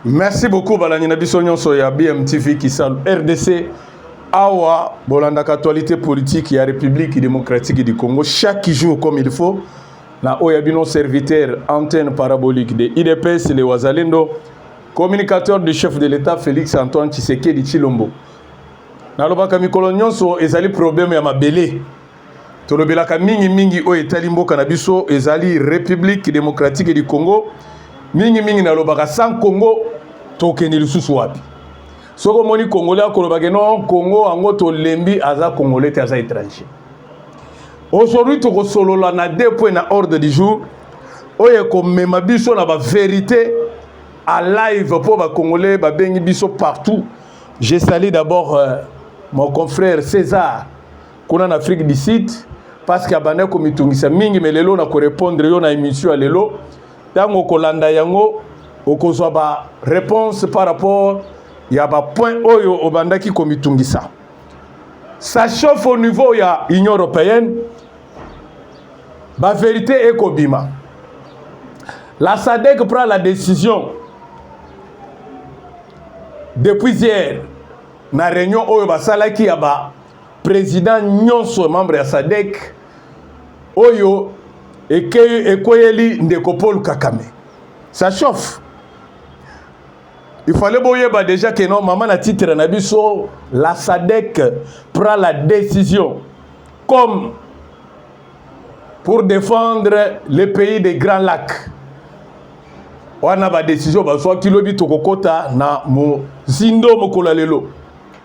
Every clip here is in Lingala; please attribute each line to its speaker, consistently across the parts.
Speaker 1: merci beaucoup balandi na biso nyonso ya bmtv kisalu rdc awa bolandaka actualité politique ya république démocratique du congo chaque jour comme il faut na oyo ya bino serviteur antenne parabolique de idps le wazalendo communicateur du chef de l'état félix antoine tshisekedi tshilombo nalobaka mikolo nyonso ezali problème ya mabele Tolobelaka mingi mingi oyo etali mboka na biso ezali Republique Democratique du Congo. Mingi mingi nalobaka sans Congo tokende lisusu wapi? Soki omoni Congolais akoloba ke non Congo yango tolembi aza Congolais te aza étranger. Aujourd'hui tokosolola na deux points na ordre du jour oyo ekomema biso na ba verité à live mpo ba Congolais babengi biso partout. Je salue d'abord euh, mon confrère César kuna na Afrique du Sud parce que abanda komitungisa mingi mais lelo na ko répondre yo na émission ya lelo tango kolanda yango okozwa ba réponse par rapport ya ba point oyo obandaki komitungisa ça chauffe au niveau ya Union européenne ba vérité ekobima la SADC prend la décision depuis hier na réunion oyo basalaki ya ba President nyonso membre ya SADC oyo ekweyeli ndeko Paul Kakame ça chauffe il fallait boyeba déjà que non mama na titre na biso la SADC prend la décision comme pour défendre le pays des grands lacs wana badesizio bazwaki lobi tokokɔta na mozindo mokolo ya lelo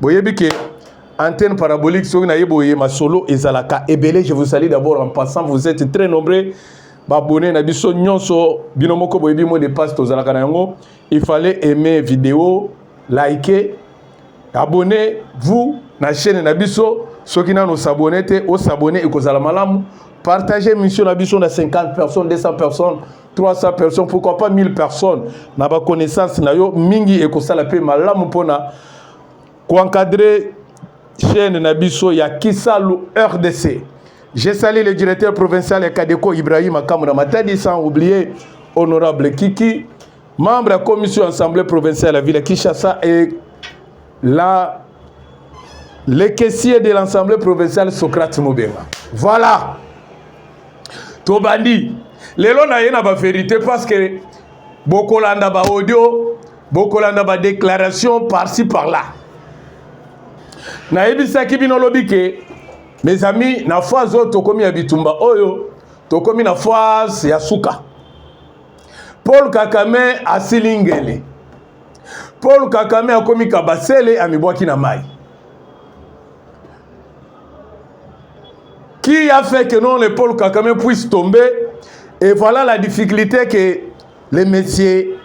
Speaker 1: boyebi ke antenne parabolique soki naye boye masolo ezalaka ebele je vous salue d'abord en passant vous êtes très nombreux babone na biso nyonso bino moko boyebi mot de passe tozalaka na yango il fallait aimer video liker abonner vous na chaîne na biso soki nano s'abonner te osabonner ekozala malamu partager mission na biso na 50 personnes 200 personnes 300 personnes pourquoi pas 1000 personnes na ba connaissance na yo mingi ekosala pe malamu mpona koencadrer chaîne na biso ya kisalu rdc j'ai sali le directeur provincial ya kadeko ibrahima kamuna matadi sans oublier honorable kiki membre ya commission assemblée provinciale ya ville ya kinshasa et la le caissier de l'assemblée provinciale socrate mobenga voilà tobandi lelo na ye na ba verite parce que bokolanda ba audio bokolanda ba déclaration par-ci par-là nayebisaki bino lobi ke mes amis na phase oyo tokomi ya bitumba oyo tokomi na phase ya suka paul kakame asili ngele paul kakame akomi kabasele amibwaki na mai Qui a fait que non le Paul Kagame puisse tomber Et voilà la difficulté que le monsieur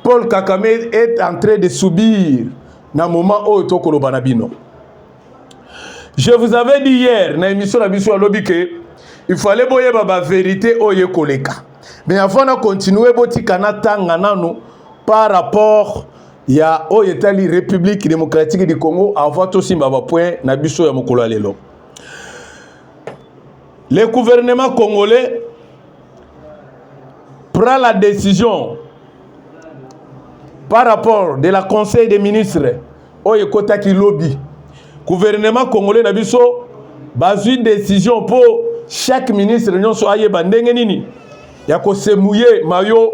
Speaker 1: Paul Kagame est en train de subir na moment oyo tokoloba na bino. Je vous avais dit hier na émission na biso alobi que il fallait boyeba ba vérité oyo ekoleka. Mais avant na continuer botika na tanga nanu par rapport ya oyo etali Republique Democratique du Congo avant tosimba ba point na biso ya mokolo ya lelo. Le gouvernement congolais prend la décision par rapport de la conseil des ministres oyo ekotaki lobi gouvernement congolais na biso bazwi décision mpo chaque ministre nyonso ayeba ndenge nini ya kosemuye mayo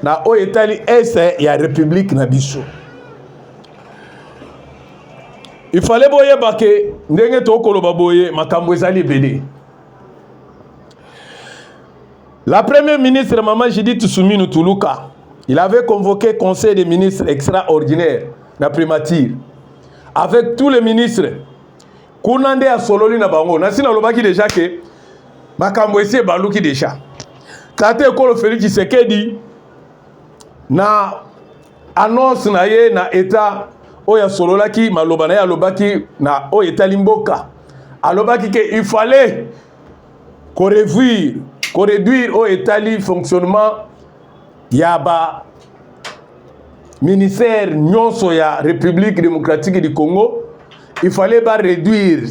Speaker 1: na oyo etali este ya republike na biso ifale boyeba ke ndenge tokoloba boye makambo ezali ebele la première ministre mama judith suminu tuluka il avait convoqué conseil des ministres extraordinaire na primature avec tous les ministres Kuna nde asololi na bango. Nasi nalobaki deja ke makambo esi ebaluki deja. Tata ekolo Felix Tshisekedi na annonce na ye na etat oyo asololaki maloba na ye alobaki na oyo etali mboka alobaki ke il fallait korevuire koreduire oyo etali fonctionnement ya ba ministère nyonso ya République démocratique du Congo il fallait ba réduire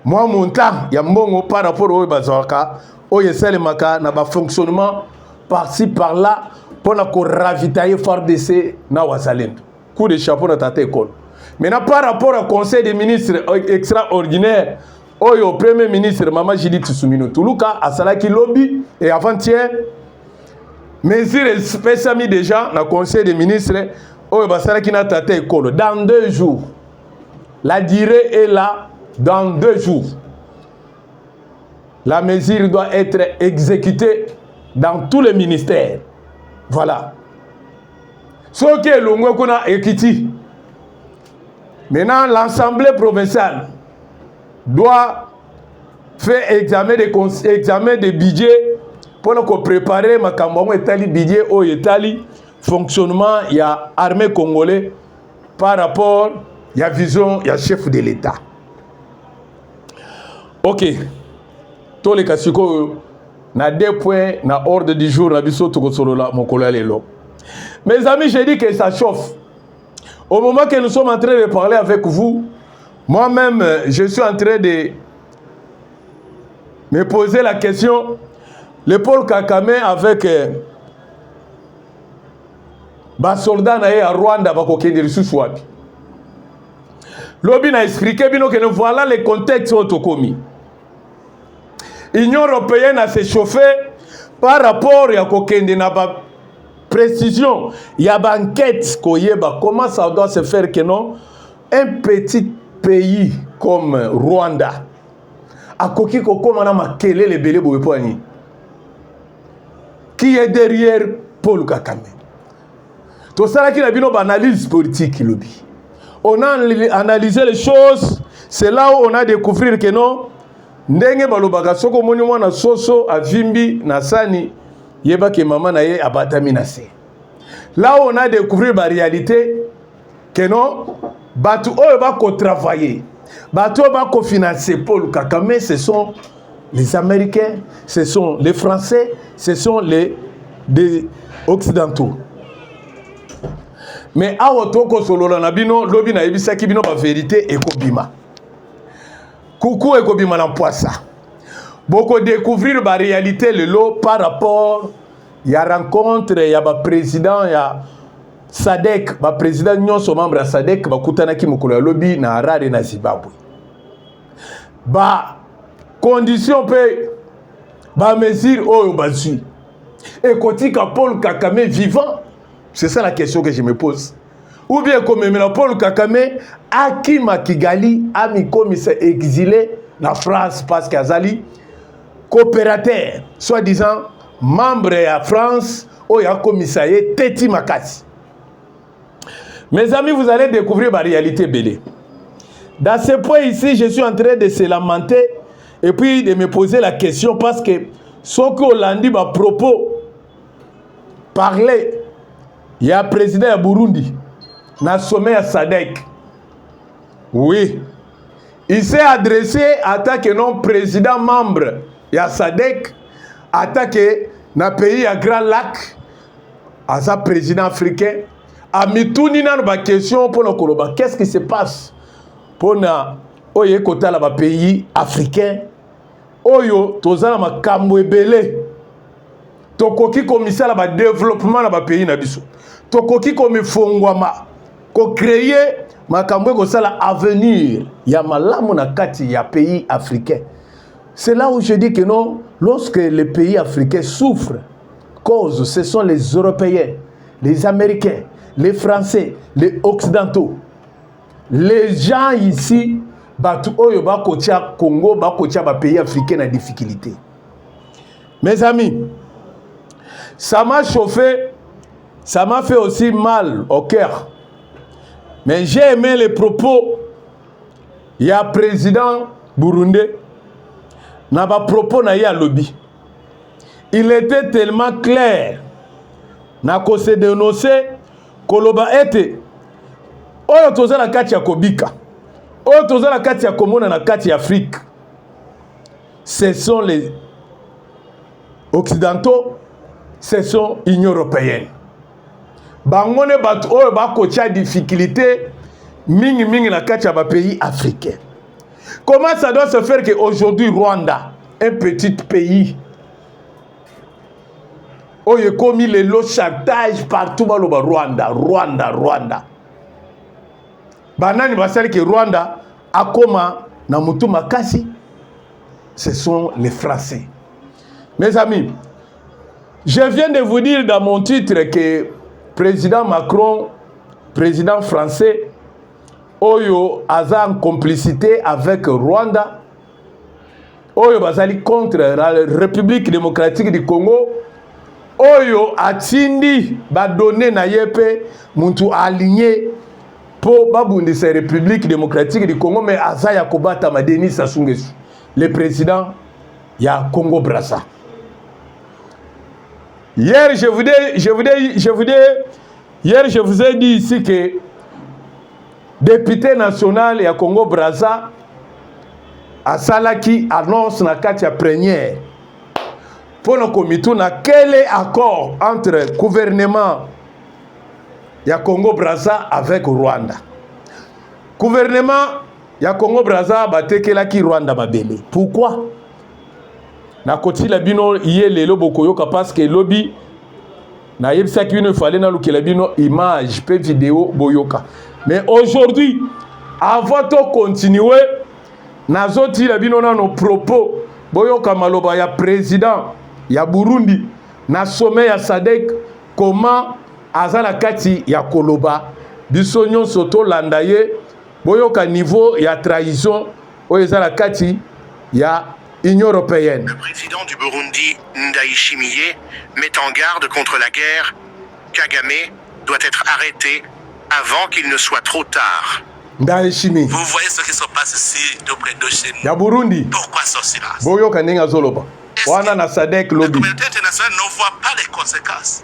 Speaker 1: mwa montant ya mbongo par rapport oyo bazwaka oyo esalemaka na ba fonctionnement par-ci par-là mpo na koravitailler FARDC na wazalendo coup de chapeau na tata ekolo maintenant par rapport ya conseil des ministres extraordinaire oyo premier ministre mama judith sumino tuluka asalaki lobi e avant-hier mesure espesami déjà na conseil des ministres oyo basalaki na tata ekolo dans deux jours la durée est là dans deux jours la mesure doit être exécutée dans tous les ministères voilà soki elongwe kuna ekiti Maintenant, l'Assemblée provinciale doit faire examen de, examen de budget mpo na koprepare makambo yango etali budget oyo etali fonctionnement ya armée congolais par rapport ya vision ya chef de l'État. Ok, toleka sikoyo na deux points na ordre du jour na biso tokosolola mokolo ya lelo. Mes amis, j'ai dit que ça chauffe. Au moment que nous sommes en train de parler avec vous, moi-même, je suis en train de me poser la question, le Paul Kakame avec euh, basoldat na ye ya Rwanda bakokende lisusu wapi? Lobi na expliquer bino que voilà le contexte oyo tokomi. Union européenne a se chauffer par rapport ya kokende na ba Precision ya ba enquête koyeba comment ça doit se faire que non un petit pays comme Rwanda akoki kokoma na makelele ebele boye mpo ya nini qui est derrière Paul Kagame tosalaki na bino baanalyse politique lobi on a analysé les choses c'est là où on a découvrir que non ndenge balobaka soki omoni mwana soso avimbi na sani yeba ke mama na ye abatami na se là on a découvrir ba réalité que non bato oyo bakotravaille bato oyo bakofinanse paul kakame ce sont les américains ce sont les français ce sont les des occidentaux mais awa tokosolola na bino lobi nayebisaki bino baverité ekobima Kuku ekobima na mpwasa. Boko découvrir ba réalité lelo par rapport ya rencontre ya ba président ya SADC, ba président nyonso membre ya SADC bakutanaki mokolo ya lobi na Harare na Zimbabwe. Ba condition mpe ba mesure oyo bazwi ekotika Paul Kagame vivant? C'est ça la question que je me pose. ou bien ekomemela paul kakame akima kigali amikomisa exile na france parce que azali coopérateur soit disant membre ya france oyo akomisa ye teti makasi mes amis vous allez découvrir baréalité ebele dans ce point ici je suis en train de se lamenter et puis de me poser la question parce que soki olandi bapropos parler ya president ya Burundi na sommet ya SADC. Oui, il s'est adressé ata que non président membre ya SADC ata que na pays ya Grand Lac aza président africain amituni nano ba question mpo na koloba qu'est-ce qui se passe mpo na oyo ekotala ba pays africain oyo toza na makambo ebele tokoki komisala badeveloppement na bapays na biso tokoki komifongwama kocreye makambo ekosala avenir ya malamu na kati ya pays africain c'est là où je dis que non lorsque les pays africains souffrent cause ce sont les européens les américains les français les occidentaux les gens ici bato oyo bakotia congo bakotia bapays africain na difficulté mes amis ça m'a chauffé ça m'a fait aussi mal au cœur mais j'ai aimé les propos ya président burundais na bapropos na ye alobi il était tellement clair na kosedenonce koloba ete oyo toza na kati ya kobika oyo toza na kati ya komona na kati ya afrique ce sont les occidentaux ce sont union européenne bango nde bato oyo bakotya difficulté mingimingi na kati ya bapays africain comment ça doit se faire que aujourd'hui rwanda un petit pays oyo ekomi lelo chantage partout baloba rwanda rwanda rwanda banani basali ke rwanda akoma na motu makasi ce sont les français mes amis je viens de vous dire dans mon titre que président macron président français oyo aza en complicité avec rwanda oyo bazali contre la République démocratique du Congo oyo atindi badone na ye mpe mutu aligne mpo babundisa République démocratique du Congo mais aza ya kobatama Denis Sassou Nguesso le président ya Congo Brazza hier je vous dis, je vous dis, je vous dis, hier je vous ai dit ici que Depute national ya Congo Brazza asalaki annonce na kati ya première mpo na komituna quel est accord entre gouvernement ya Congo Brazza avec Rwanda. Gouvernement ya Congo Brazza batekelaki Rwanda mabele. Pourquoi? nakotila bino ye lelo bokoyoka paske lobi nayebisaki bino efale nalukela bino image mpe video boyoka mais aujourd'hui avant to continue nazotila bino nano propos boyoka maloba ya président ya burundi na sommet ya sadek comment aza na kati ya koloba biso nyonso tolanda ye boyoka niveau ya trahison oyo eza na kati ya Union européenne. Le président du Burundi
Speaker 2: Ndayishimiye met en garde contre la guerre, Kagame doit être arrêté avant qu'il ne soit trop tard. Ndayishimiye. Vous
Speaker 1: voyez ce qui se
Speaker 2: passe ici de près de chez nous. Ya Burundi. Pourquoi ce
Speaker 1: silence?
Speaker 2: Boyoka ndenge azoloba.
Speaker 1: Wana na SADC lobi. La communauté internationale ne
Speaker 2: voit pas les conséquences.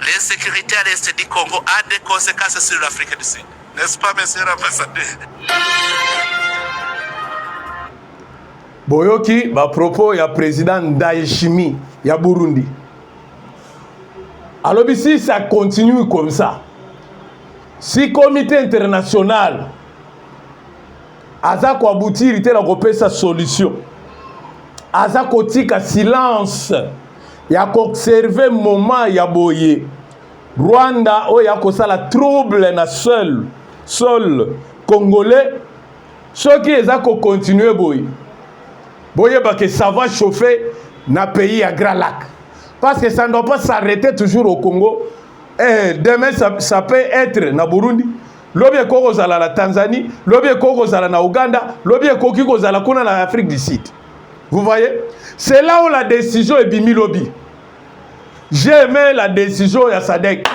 Speaker 2: L'insecurite à l'est du Congo a des consequences sur l'Afrique du Sud. N'est-ce pas, monsieur l'ambassadeur?
Speaker 1: boyoki bapropos ya président ndayishimi ya burundi alobi si ça continue comme ça si comité international aza koabutiri te na kopesa solution aza kotika silence ya koobserve moment ya boye rwanda oyo akosala trouble na seul sol congolais soki eza kokontinue boye boyebake ça va chauffer na pays ya grand lac parce que ça ne doit pas s'arrêter toujours au congo eh, demain ça, ça peut être na burundi lobi ekoki kozala na tanzanie lobi ekoki kozala na ouganda lobi ekoki kozala kuna na afrique du sud vous voyez c'est là où la décision ebimi lobi j'ai aimé la décision ya sadek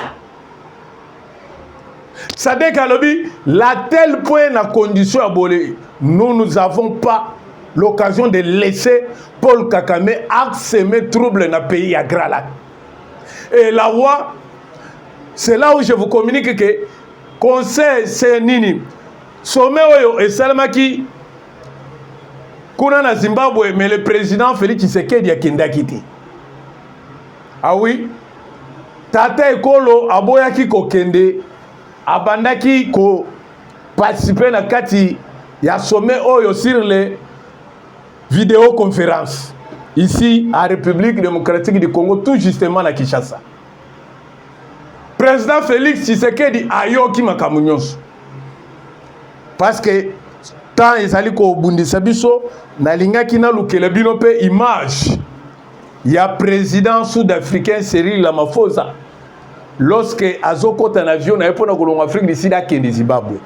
Speaker 1: sadek alobi la tel point na condition ya bole nous nous avons pas l'occasion de laisser paul kakame arseme trouble na pays ya gralac Et la loi, c'est là où je vous communique que conseil c'est nini sommet oyo esalemaki kuna na zimbabwe mais le président félix tshisekedi akendaki te ah oui tata ekolo aboyaki kokende abandaki ko participe na kati ya sommet oyo sur le Video conférence ici à République démocratique du Congo tout justement na Kinshasa. Président Félix Tshisekedi ayoki makambo nyonso parce que temps ezali kobundisa biso nalingaki nalukela bino mpe image ya président sud-africain Cyril Ramaphosa lorsque azokota na avion na ye mpo na kolonga Afrique du Sud akende Zimbabwe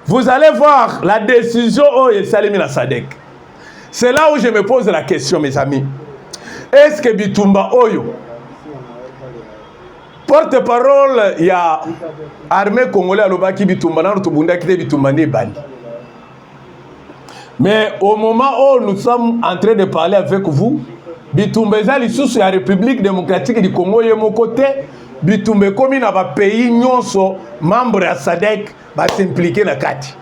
Speaker 1: Vous allez voir la décision oyo esalemi na SADC. C'est là où je me pose la question mes amis. Est-ce que bitumba oyo porte-parole ya armée congolais alobaki bitumba nano tobundaki te bitumba nde ebandi mais au moment où nous sommes en train de parler avec vous bitumba eza lisusu ya république démocratique du congo ye moko te bitumba ekomi na bapays nyonso membre ya sadec basimplike na kati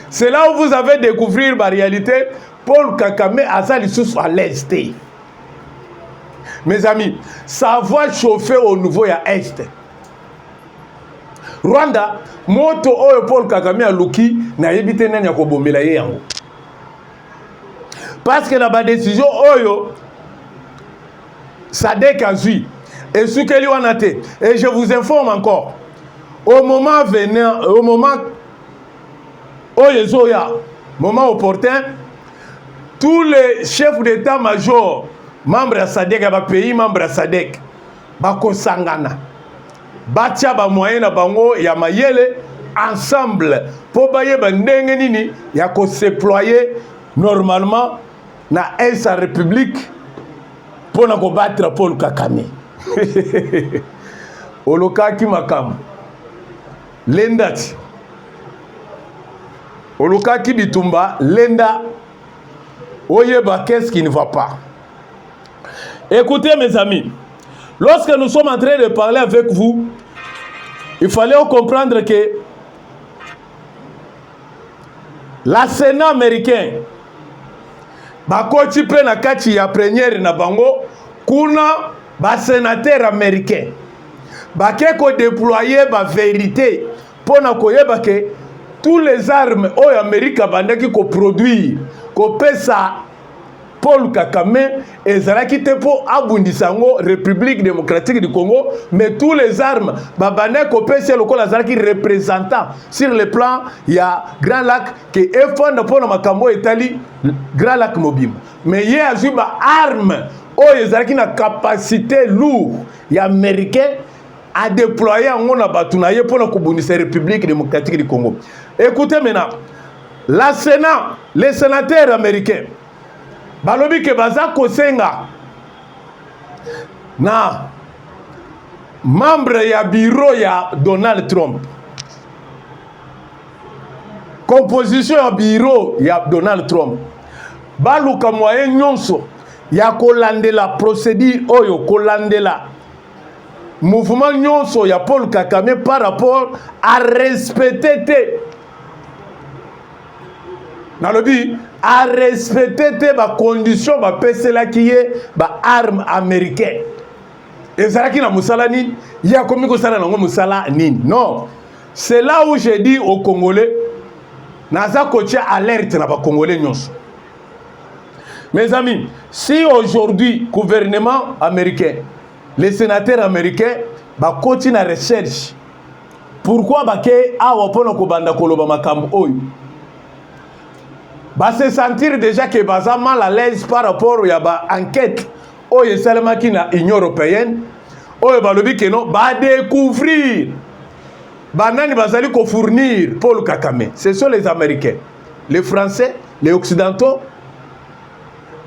Speaker 1: c'est là où vous avez découvrir baréalité paul kakame aza lisusu à l'aise te mes amis ça va chauffer au niveau ya est Rwanda moto oyo Paul Kagame aluki nayebi te nani akobomela ye yango parce que na ba décision oyo Sadek azui esukeli wana te et je vous informe encore au moment venant au moment oyo ezoya moment opportun tous les chefs d'état-major membres ya Sadek ya ba pays membres ya Sadek bakosangana batia bamoyen na bango ya mayele ensemble mpo bayeba ndenge nini ya kosedeploye normalement na est ya république mpo na kobattre paul kakame olokaki makambo lendati olukaki bitumba lenda oyeba qu'est-ce qui ne va pas Écoutez mes amis, lorsque nous sommes en train de parler avec vous, il fallait comprendre que la Sénat américain bakoti mpe na kati ya première na bango kuna basenatere américain bake kodeploye baverité mpo na koyeba ke tous les armes oyo amerika abandaki koproduire kopesa Paul Kakame ezalaki te mpo abundisa yango République démocratique du Congo mais tous les armes babandaki kopesa ye lokola azalaki représentant sur le plan ya Grand Lac ke efanda mpo na makambo oyo etali Grand Lac mobimba mais ye azwi ba arme oyo ezalaki na capacité lourd ya américain adéploye yango na bato na ye mpo na kobundisa République démocratique du Congo. Écoutez maintenant La Senat, les senateurs américains balobi ke baza kosenga na membre ya bureau ya Donald Trump composition ya bureau ya Donald Trump baluka moyen nyonso ya kolandela procédure oyo kolandela mouvement nyonso ya Paul Kagame par rapport à respecter te nalobi arespecte te bacondition bapeselaki ye baarme américain ezalaki na mosala nini ye akomi kosala nango mosala nini non c'est là où je dis au congolais naza kotia alerte na bacongolais nyonso mes amis si aujourd'hui gouvernement américain les sénateurs américains bakoti na recherche Pourquoi bake awa mpo na kobanda koloba makambo oyo ba se sentir déjà que baza mal à l'aise par rapport ya ba enquête oyo esalemaki na Union européenne oyo balobi que non ba découvrir banani bazali ko fournir Paul Kakame ce sont les Américains les Français les Occidentaux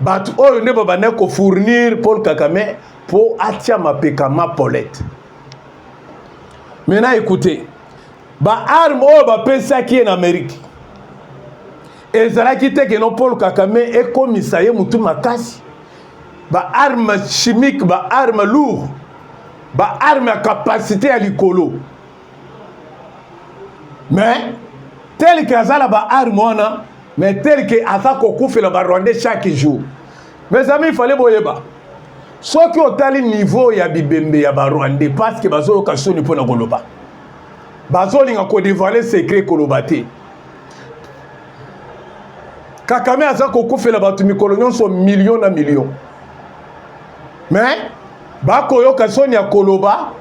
Speaker 1: bato oyo nde babandaki ko fournir Paul Kakame mpo atia mapeka ma polete maintenant écoutez baarme oyo bapesaki ye na amerike ezalaki te keno paul kakame ekomisa ye motu makasi baarme chimique baarme lourd baarme ya kapasité ya likolo mais tel ke aza na baarme wana mais tel ke aza kokufela barwandais chaque jour mes amis fale boyeba soki otali niveau ya bibembe ya ba rwandais parce que bazoyoka soni mpo na koloba bazolinga kodevoile secret koloba te kakame aza kokufela bato mikolo nyonso milio na milio me bakoyoka soni ya koloba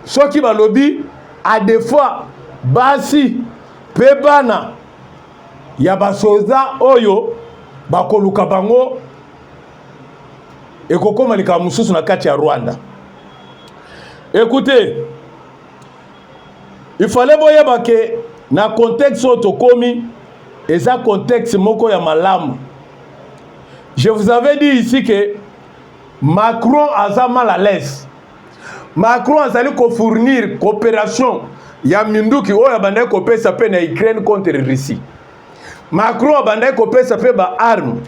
Speaker 1: soki balobi adefois basi mpe bana ya basoda oyo bakoluka bango ekokoma likambo mosusu na kati ya rwanda ekute ifale boyeba ke na contexte oyo tokomi eza contexte moko ya malamu je vous avais dit ici que macron aza mal à l'aise Macron azali ko fournir cooperation ya minduki oyo abandaki kopesa mpe na Ukraine contre Russie. Macron abandaki kopesa mpe ba armes,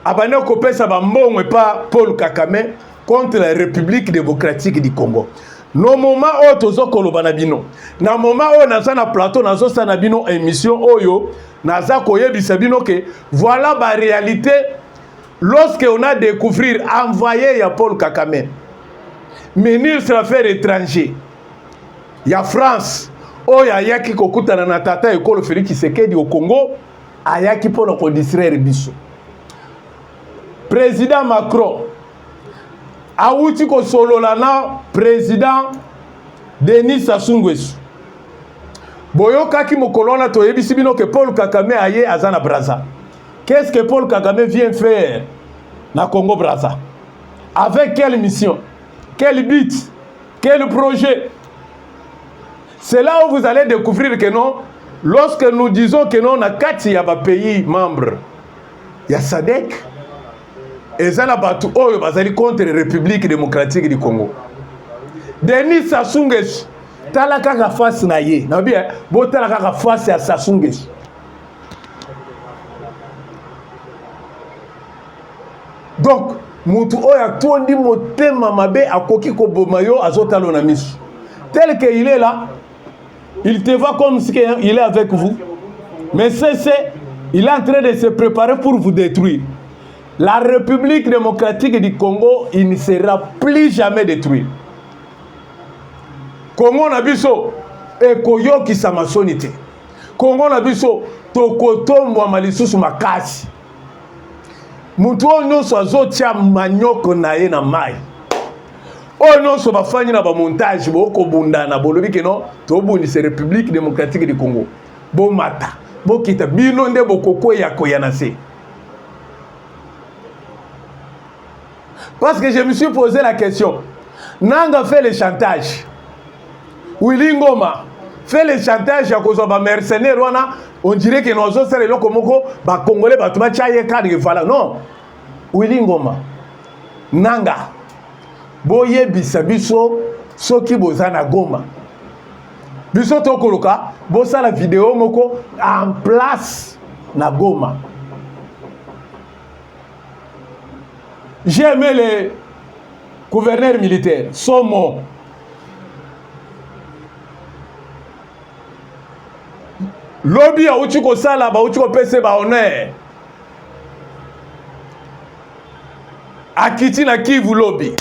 Speaker 1: abandaki kopesa ba mbongo epa Paul Kagame contre la République démocratique du Congo. No moment oyo tozo koloba na bino, na moment oyo naza na plateau nazosala na bino emission oyo, naza koyebisa bino ke voilà ba réalité Lorsque on a découvrir envoyé ya Paul Kakame, ministre affaires étrangers ya France oyo ayaki kokutana na tata ekolo Felix Tshisekedi au Congo, ayaki mpo na kodistraire biso. Président Macron awuti kosolola na président Denis Sassou Nguesso. Boyokaki mokolo wana toyebisi bino ke Paul Kakame aye aza na Brazza. Qu'est-ce que Paul Kagame vient faire na Congo Brazza? Avec quelle mission? Quel but? Quel projet? C'est là où vous allez découvrir que non, lorsque nous disons que non, na kati ya ba pays membres ya SADC, eza na bato oyo bazali contre République démocratique du Congo. Denis Sassou Nguesso tala kaka face na ye nabi eh, botala kaka face ya Sassou Nguesso donc moto oyo atondi motema mabe akoki koboma yo azotalo na miso tel que il est là il te voit comme si il est avec vous mais cc il est en train de se préparer pour vous détruire la république démocratique du congo il ne sera plus jamais détruit congo na biso ekoyokisama soni te Kongo na biso tokotombwama lisusu makasi. Moto oyo nyonso azotya manyoko na ye na mai oyo nyonso bafandi na bamontage bokobundana bolobi keno tobundisa république démocratique du congo bomata bokita bino nde bokokweya koya na se Parce que je me suis posé la question. Nanga fait le chantage. Willy Ngoma fait le chantage ya kozwa ba mercenaires wana on dirait que nozo sala eloko moko ba congolais bato batya ye cadre voilà non Willy Ngoma nanga boyebisa biso soki boza na Goma biso tokoluka bosala video moko en place na Goma J'ai aimé le gouverneur militaire, Somo. lobi auti kosala bauti kopesa ba honneur akiti na kivu lobi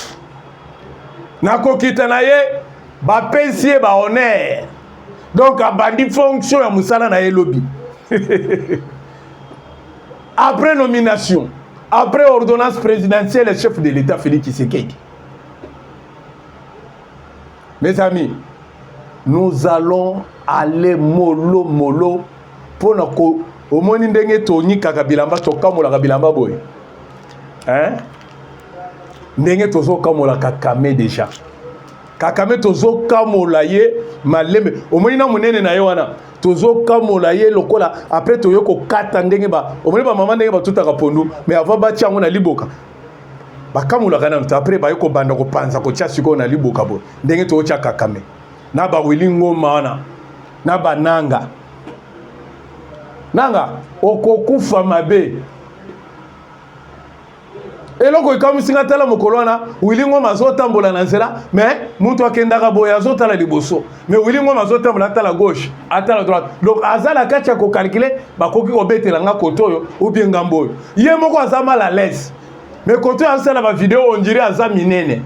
Speaker 1: na kokita na ye bapesi ye ba honneur donc abandi fonction ya mosala na ye lobi Après nomination, après ordonnance présidentielle, chef de l'État Félix Tshisekedi. Mes amis, nous allons aller molo molo pour na ko omoni ndenge tonyikaka bilamba tokamolaka bilamba boye hein? ndenge tozokamolaka kame déjà kakame tozokamola ye malembe omoni na monene na ye wana tozokamola ye lokola apres toye kokata ndenge ba omoni bamama ndenge batutaka pondu mais avant batya yango na liboka bakamolaka nano te apres baye kobanda kopanza kotya sikoyo na liboka boye ndenge tootya kakame na bawili ngoma wana na bananga nanga okokufa mabe eloko ekamwisi nga tala mokolo wana wili ngoma azotambola na nzela me moto akendaka boye azotala liboso me wili ngoma azotambola atala gauche atala droite donc aza na kati ya kokalkile bakoki kobetela nga kote oyo obie ngambo oyo ye moko aza mal à l'aise me kote oyo azosala bavideo ondire aza minene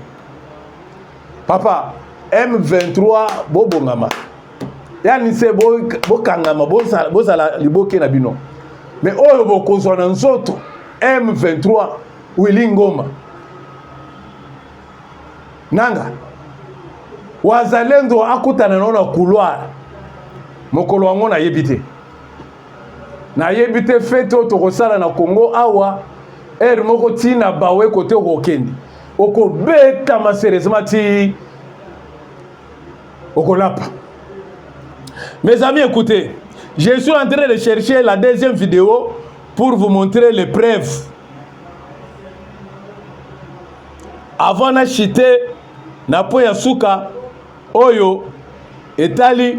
Speaker 1: papa m23 bobongama yani se bokangama bozala, bozala liboke na bino me oyo bokozwa na nzoto m23 wili ngoma nanga wazalendo akutana nao na couloir mokolo yango nayebi te nayebi te fete oyo tokosala na congo awa ere moko ntina bawe kote okokende okobetama serieusement ti okolapa mes amis écoutez je suis en train de chercher la deuxième vidéo pour vous montrer les preuves avant na chite na po ya suka oyo etali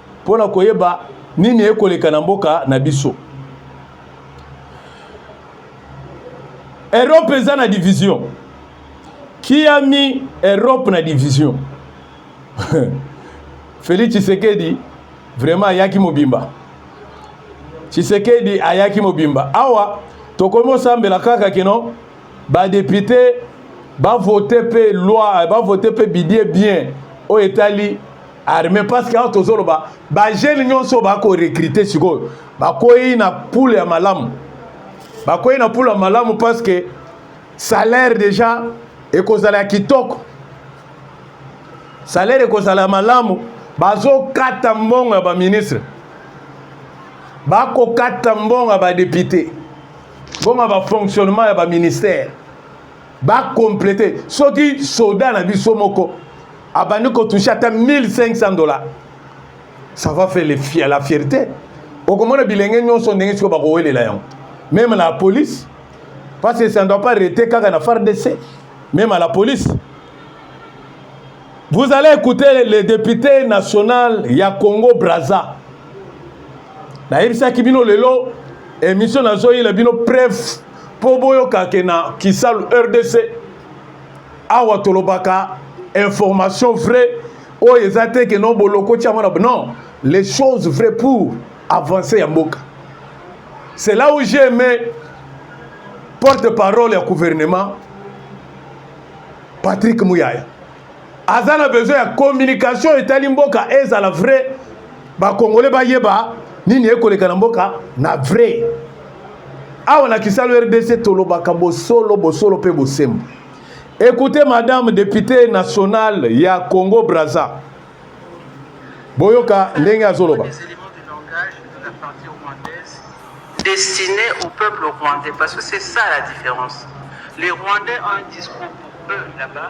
Speaker 1: mpo na koyeba nini ekoleka na mboka na biso. Europe eza na division kiami Europe na division Felix Tshisekedi vraiment ayaki mobimba Tshisekedi ayaki mobimba awa tokomi osambela kaka kino badepute bavote mpe loi bavote mpe bidie bien oyo etali arme parce que awa tozoloba bajeune nyonso bakorekrite sikoyo bakwei na poule ya malamu bakwei na poule ya malamu parce que salaire déjà ekozala ya kitoko salaire ekozala ya malamu bazokata mbongo ya baministre bakokata mbongo ya badepute mbongo ya bafonctionnement ya baministère bacomplete soki soda na biso moko abandi kotouche ata 1500 dollars ça va faire le, la fierté okomona bilenge nyonso ndenge sikoyo bakowelela yango meme na police parce que ça ne doit pas rete kaka na fardc meme à la police vous allez écouter le député national ya congo braza nayebisaki bino lelo emission nazoyela bino preuve mpo boyoka ke na kisalu rdc awa tolobaka information vraie oyo eza te ke no bolokoti yango na non les choses vraies pour avancer ya mboka c'est là où j'ai aimé porte parole ya gouvernement patrick muyaya aza na besoin ya communication etali mboka ezala vrai bakongole bayeba nini ekoleka na mboka na vrai awa na kisalo rdc tolobaka bosolo bosolo mpe bosembo Écoutez, Madame députée nationale ya Congo Brazza. Boyoka ndenge azoloba.
Speaker 3: Destiné au peuple rwandais, parce que c'est ça la différence. Les Rwandais ont un discours pour eux là-bas.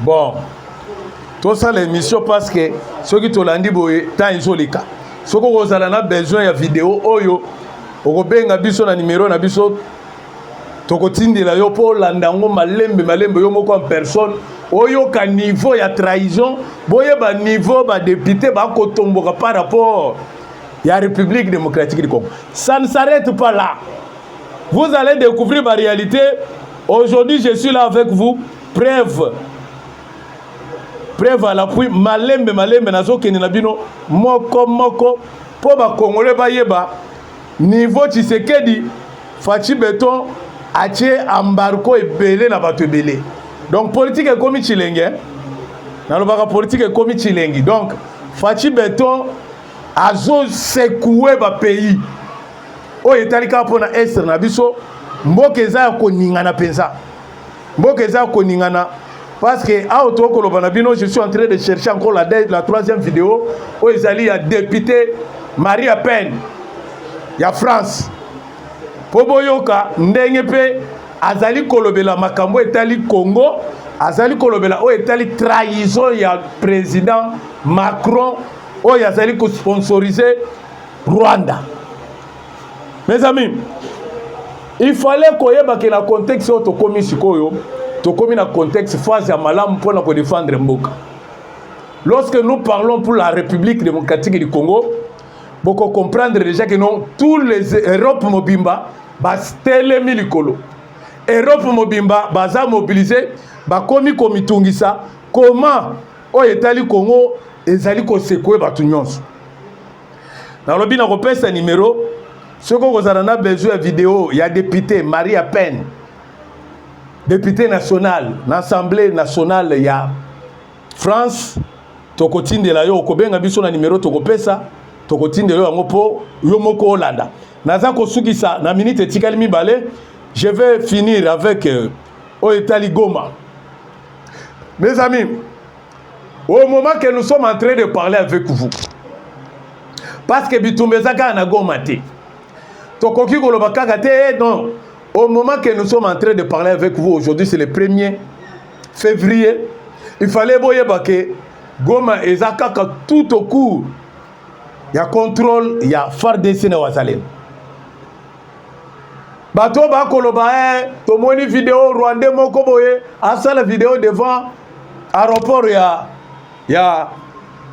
Speaker 3: bon
Speaker 1: tosala émission parce que soki tolandi boye temps ezoleka soki okozala na besoin ya video oyo okobenga biso na nimero na biso tokotindela yo mpo olanda yango malembe malembe yo moko en personne oyoka niveau ya trahison boyeba niveau badepute bakotomboka par rapport ya république démocratique du congo ça ne s'arrête pas là Vous allez découvrir ma réalité. Aujourd'hui, je suis là avec vous. Preuve. Preuve à l'appui. Malembe, malembe, nazo kende na bino. Moko, moko. Po ba Congolais ba yeba. Niveau Tshisekedi, Fatshi Beton, atie embargo ebele na bato ebele. Donc politique ekomi chilenge. Nalobaka politique ekomi chilengi. Donc Fatshi Beton azo secouer ba pays. oyo etali kaka mpo na estre na biso mboka eza ya koningana mpenza mboka eza ya koningana parce que awa tokoki koloba na bino je suis en train de chercher encore la, la troisième vidéo oyo ezali ya député maria peine ya france mpo boyoka ndenge mpe azali kolobela makambo etali congo azali kolobela oyo etali trahison ya président macron oyo azali kosponsorize Rwanda. Mes amis, il fallait koyeba ke na contexte oyo tokomi sikoyo tokomi na contexte phase ya malamu mpo na kodefendre mboka lorsque nous parlons pour la république démocratique du congo boko comprendre déjà que non tous les europe mobimba batelemi likolo europe mobimba baza mobilise bakomi komitungisa comment oyo etali Congo ezali kosekwe bato nyonso. Nalobi na kopesa nimero soki okozala na besoin ya video ya depute Maria Pen, depute national na assemblée nationale ya France, tokotindela yo, okobenga biso na nimero tokopesa, tokotindela yo yango mpo yo moko olanda. Naza kosukisa na minute etikali mibale, je vais finir avec euh, oyo etali Goma. Mes amis, au moment que nous sommes en train de parler avec vous, parce que bitumba eza kaka na goma te tokoki koloba kaka te eh, non au moment que nous sommes en train de parler avec vous aujourd'hui c'est le 1er février il fallait boyeba ke goma eza kaka tout au cours ya contrôle ya fardc na wazalendo bato oyo bakoloba e tomoni video rwandais moko boye asala video devant aéroport ya, ya,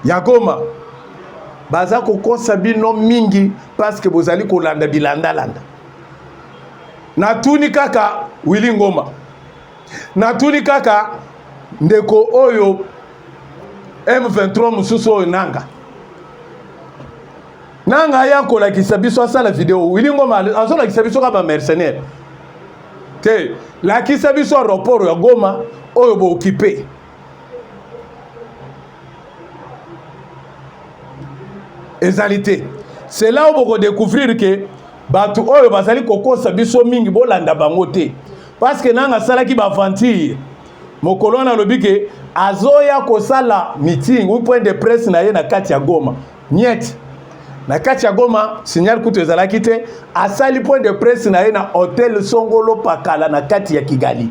Speaker 1: ya goma baza kokosa bino mingi parceke bozali kolanda bilandalanda natuni kaka wili ngoma natuni kaka ndeko oyo m23 mosusu oyo nanga na ngai akolakisa biso asala video wili ngoma azolakisa biso kaka bamercenaire te lakisa biso aeroport ya goma oyo bookipe ezali te c'est là oyo bokodécouvrir ke bato oyo bazali kokosa biso mingi bolanda bango te parce que nanga asalaki baaventure mokolo wana alobi ke azoya kosala meeting ou point de presse na ye na kati ya goma Niet. Na kati ya Goma, signal kutu ezalaki te. Asali point de presse na ye na hotel Songolo Pakala na kati ya Kigali.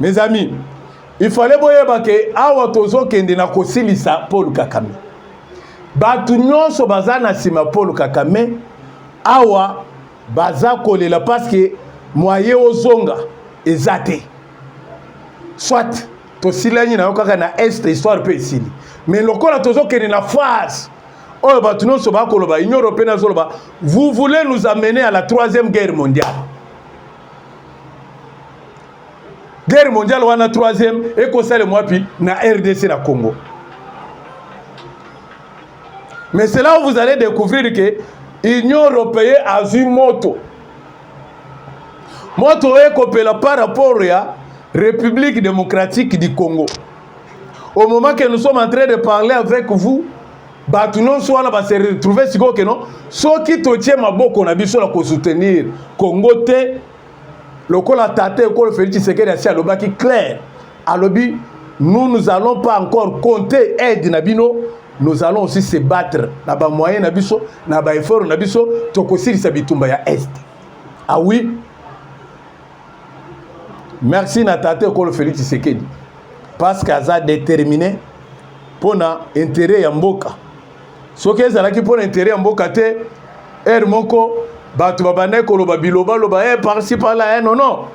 Speaker 1: Mes amis, il fallait boyeba ke awa tozokende na kosilisa Paul Kakame. Bato nyonso baza na nsima Paul Kakame awa baza kolela paske mwaye ozonga eza te soit tosilani na yo kaka na est histoire mpe esili mais lokola tozokende na phase oyo bato nyonso bakoloba union européenne azoloba vous voulez nous amener à la troisième guerre mondiale guerre mondiale wana troisième ekosalema wapi na rdc na congo mais c'est là où vous allez découvrir que union européenne azwi moto moto oyo ekopela par rapport ya république démocratique du congo au moment que nous sommes en train de parler avec vous bato nyonso wana base retrouve sikoyo keno soki totie maboko na biso na kosoutenir congo te lokola tata ekolo félix tshisekedi asi alobaki claire alobi nous nous allons pas encore compter aide na bino nous allons aussi se battre na ba moyen na biso na ba effort na biso tokosilisa bitumba ya est ah oui merci na tata ekolo Félix Tshisekedi parce que aza déterminé mpo na intérêt ya mboka soki ezalaki mpo na intérêt ya mboka te heure moko bato babandaki koloba bilobaloba e eh, parci parla e eh, nono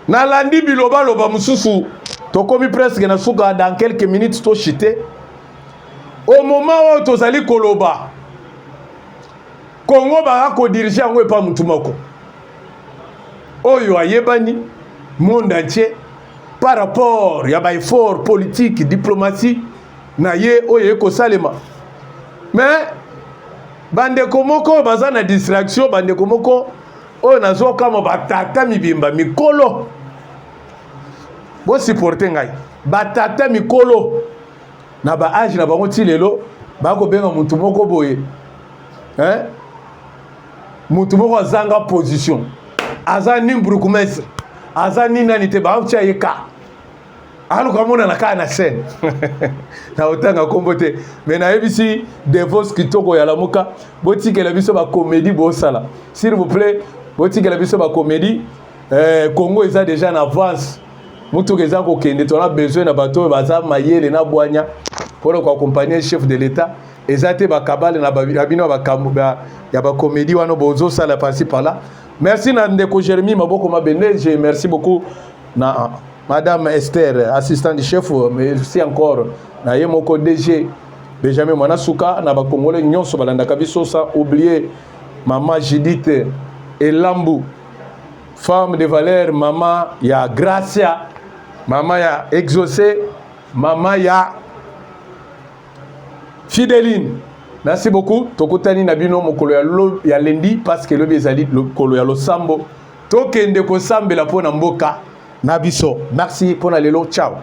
Speaker 1: nalandi bilobaloba mosusu tokomi presque na suka dans quelques minutes toshite au moment oyo tozali koloba kongo baka kodirige yango epa motu moko oyo ayebani monde entier par rapport ya baeffort politique diplomatie na ye oyo eye kosalema mais bandeko moko baza na distraction bandeko moko oyo nazokamwa batata mibimba mikolo bosiporte ngai batata mikolo na baage na bango ti lelo bakobenga motu moko boye eh? motu moko azanga position aza ni brukumestre aza ni nani te baotya ye ka aluka amonana kaka na chaîne naotanga nkombo te me nayebisi devos kitoko ya lamuka botikela biso bakomedi bosala s'il vous plaît botikela biso bakomedi eh, congo eza déjà na avance motuka eza kokende tona besoin na bato oyo baza mayele na bwanya mpona koaccompagne chef de l'état eza te bakabale na bino ya bakomedi wana bozosala pasi pala merci na ndeko jérémi maboko mabende je merci beaucoup na madame Esther assistante chef merci encore na ye moko DG Benjamin Mwana Suka na bakongole nyonso balandaka biso sans oublier mama Judith Elambu femme de valeur mama ya Gracia mama ya Exaucé mama ya Fideline merci beaucoup tokutani na bino mokolo ya, ya lendi parce que lobi ezali mokolo ya losambo tokende kosambela mpo na mboka na biso merci mpo na lelo ciao